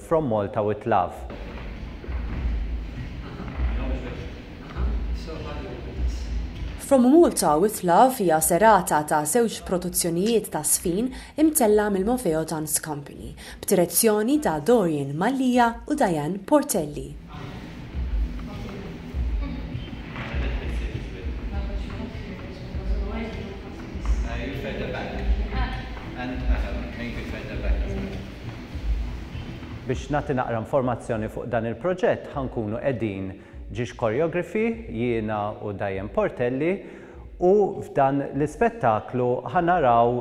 From Malta with love. From Malta with love hija serata ta' żewġ produzzjonijiet ta' Sfin imtellgħa mill-Mofeo Dance Company, b'direzzjoni ta' Dorian Mallia u Diane Portelli. Biex nagħti naqra informazzjoni fuq dan il-proġett ħa nkunu qegħdin Ġiex Choreography, jiena u Diane Portelli u f'dan l-ispettaklu ħa naraw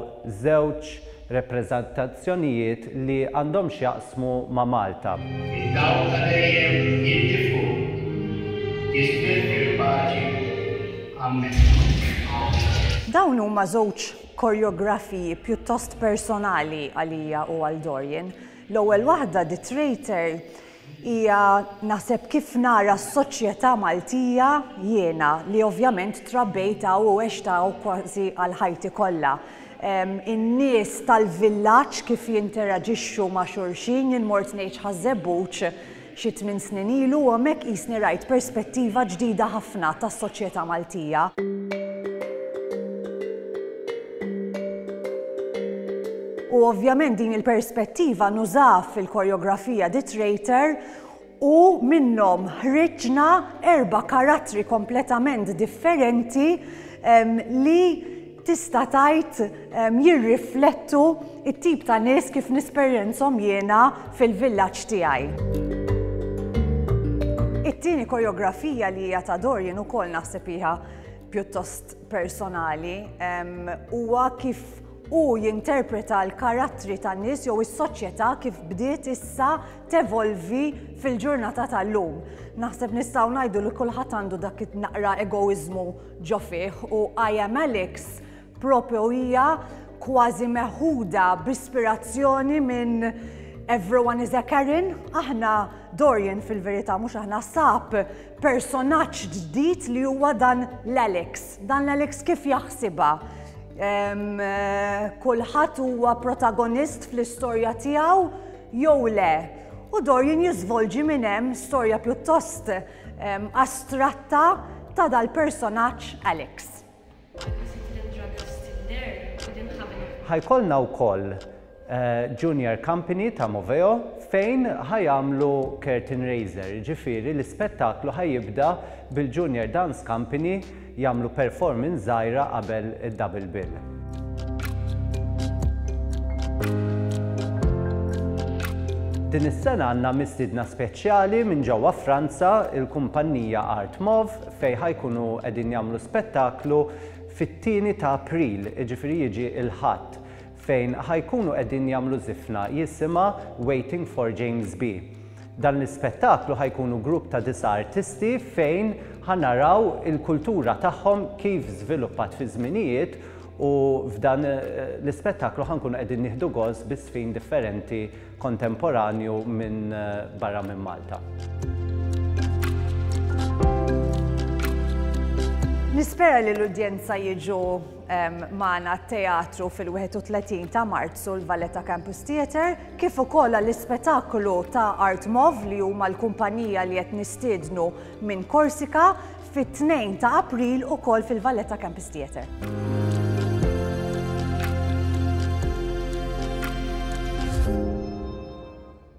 żewġ repreżentazzjonijiet li għandhom x'jaqsmu ma' Malta. Id-dawl ta' dejjem jintifu. Isbih fil-paċi. Amen. Dawn huma żewġ korjografiji pjuttost personali għalija u għal Dorian. L-ewwel waħda, The Traitor, hija naħseb kif nara s-soċjetà Maltija jiena li ovvjament trabbejt hawn u għext hawn kważi għal ħajti kollha. In-nies tal-villaġġ kif jinteraġixxu ma' xulxin, jien mort ngħix Ħaż-Żebbuġ, Xi tmien snin ilu u hemmhekk qisni rajt perspettiva ġdida ħafna tas-soċjetà Maltija. U ovvjament din il-perspettiva nużaha fil-koreografija The Traitor u minnhom ħriġna erba' karattri kompletament differenti li tista' tgħid jirriflettu t-tip ta' nies kif nisperjenzhom jiena fil-villaġġ tiegħi. It-tieni koreografija li hija ta' Dorian ukoll naħseb hija pjuttost personali huwa kif hu jinterpreta l-karattri tan-nies jew is-soċjetà kif bdiet issa tevolvi fil-ġurnata tal-lum. Naħseb nistgħu ngħidu li kulħadd għandu dak naqra egoiżmu ġo fih u I Am Alex propju hija kważi meħuda b'ispirazzjoni minn Everyone is a Karen, aħna Dorian fil-verità mhux aħna sab personaġġ ġdid li huwa dan l-Alex. Dan l-Alex kif jaħsibha? Eh, kulħadd huwa protagonist fl-istorja tiegħu jew le. U Dorian jiżvolġi minn hemm storja pjuttost astratta ta' dal-personaġġ Alex. Ħajkollna wkoll Junior Company ta' Moveo fejn ħajamlu Curtain Raiser, jiġifieri l-ispettaklu ħajibda bil-Junior Dance Company jagħmlu performance żgħira qabel id-double bill. Din is-sena għandna mistiedna speċjali minn ġewwa Franza, il-kumpannija Art Mov, fejn ħajkunu qegħdin jagħmlu spettaklu fit-tieni ta' April, jiġifieri jiġi l-Ħadd, fejn ħa jkunu qegħdin jagħmlu żifna jisimha Waiting for James B. Dan l-ispettaklu ħa jkunu grupp ta' disa' artisti fejn ħa naraw il-kultura tagħhom kif żviluppat fiż-żminijiet u f'dan eh, l-ispettaklu ħa nkunu qegħdin nieħdu gost bi żfin differenti kontemporanju minn eh, barra minn Malta. Nispera li l-udjenza jiġu magħna t-teatru fil-31 ta' Marzu l-Valletta Campus Theatre, kif ukoll għall-ispetaklu ta' Art Mov li huma l-kumpanija li qed nistiednu minn Korsika fit-2 ta' April ukoll fil-Valletta Campus Theatre.